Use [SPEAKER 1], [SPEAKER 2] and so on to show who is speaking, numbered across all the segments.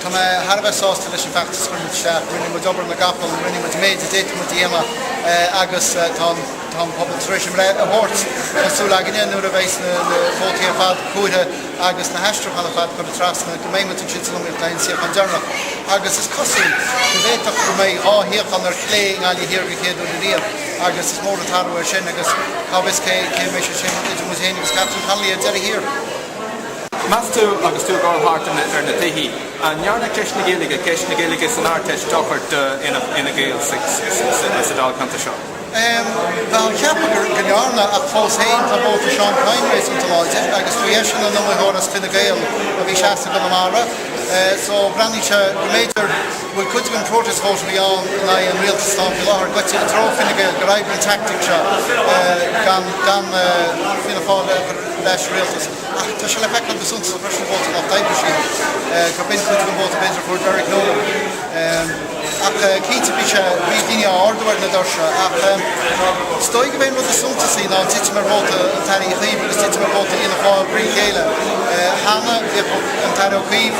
[SPEAKER 1] Tá mé thar a bheith sásta leis an bhfeachtas a chuir muid isteach. Rinne muid obair na gcapall, rinne muid an méid a d'fhéadfadh muid a dhéanamh agus tá an pobal tar éis a mbreith a thabhairt. Tá súil againne nuair a bheas na vótaí ar fad comhairthe agus na haistriúcháin ar fad curtha trasna go mbeidh muid ansin san iomaíocht le haghaidh an suíochán deireanach agus is cosúil go bhféadfadh go mbeidh dhá shuíochán ar chlé i nGaillimh Thiar den chéad uair ariamh agus is mór an t-athrú é sin agus cá bhfios cé a mbeidh sé sin idir muid féin agus Catherine Connolly ar deireadh thiar. Meas tú, agus tú ag gabháil thart ar na tithe, an ndearna ceist na Gaeilge, ceist na Gaeilge san Ardteist dochar d'Fhine Gael sa dáilcheantar seo? Bhuel, cheapfá go ndearna, ach fós féin tá vóta Seán Kyne réasúnta láidir agus ba eisean an iomaitheoir as Fine Gael a bhí seasta i gConamara so bhreathnaigh sé go mb'fhéidir, go bhfuil cuid den protest vote a bhí ann in aghaidh an rialtais atá ann faoi láthair goite i dtreo Fine Gael, gur oibrigh an teaictic seo gan Fianna Fáil a chur ar ais sa rialtas. Ach tá sé le feiceáil go suntasach freisin vóta an Lucht Oibre, sea, gur b'in cuid den vóta b'fhéidir a fuair Derek Nolan. Ach cinnte bhí sé, bhí daoine á ardú ar na doirse ach is dóigh go mb'é an rud is suntasaí ná an titim ar vóta an Aire Uí Chuív agus titim ar vóta Fhianna Fáil thrí chéile. Cheana bhíodh an tAire Ó Cuív,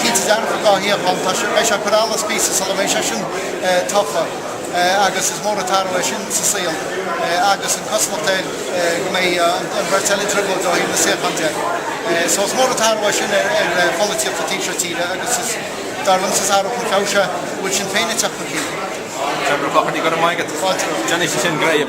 [SPEAKER 1] Cinnte dearfa dhá shuíochán. Tá sé, beidh sé ag cur allais píosa sula mbeidh sé sin tofa agus is mór an t-athrú é sin sa saol agus an cosúlacht air go mbeidh an bheirt eile i dtrioblóid ó thaobh na suíochán de. So is mór an t-athrú é sin ar pholaitíocht an taobh seo tíre agus is, dar liomsa, is athrú chun feabhais é go bhfuil Sinn Féin ag teacht chun cinn. Trevor Ó Clochartaigh, go raibh maith agat. Fáilte romhat. Déanfaidh sé sin greim.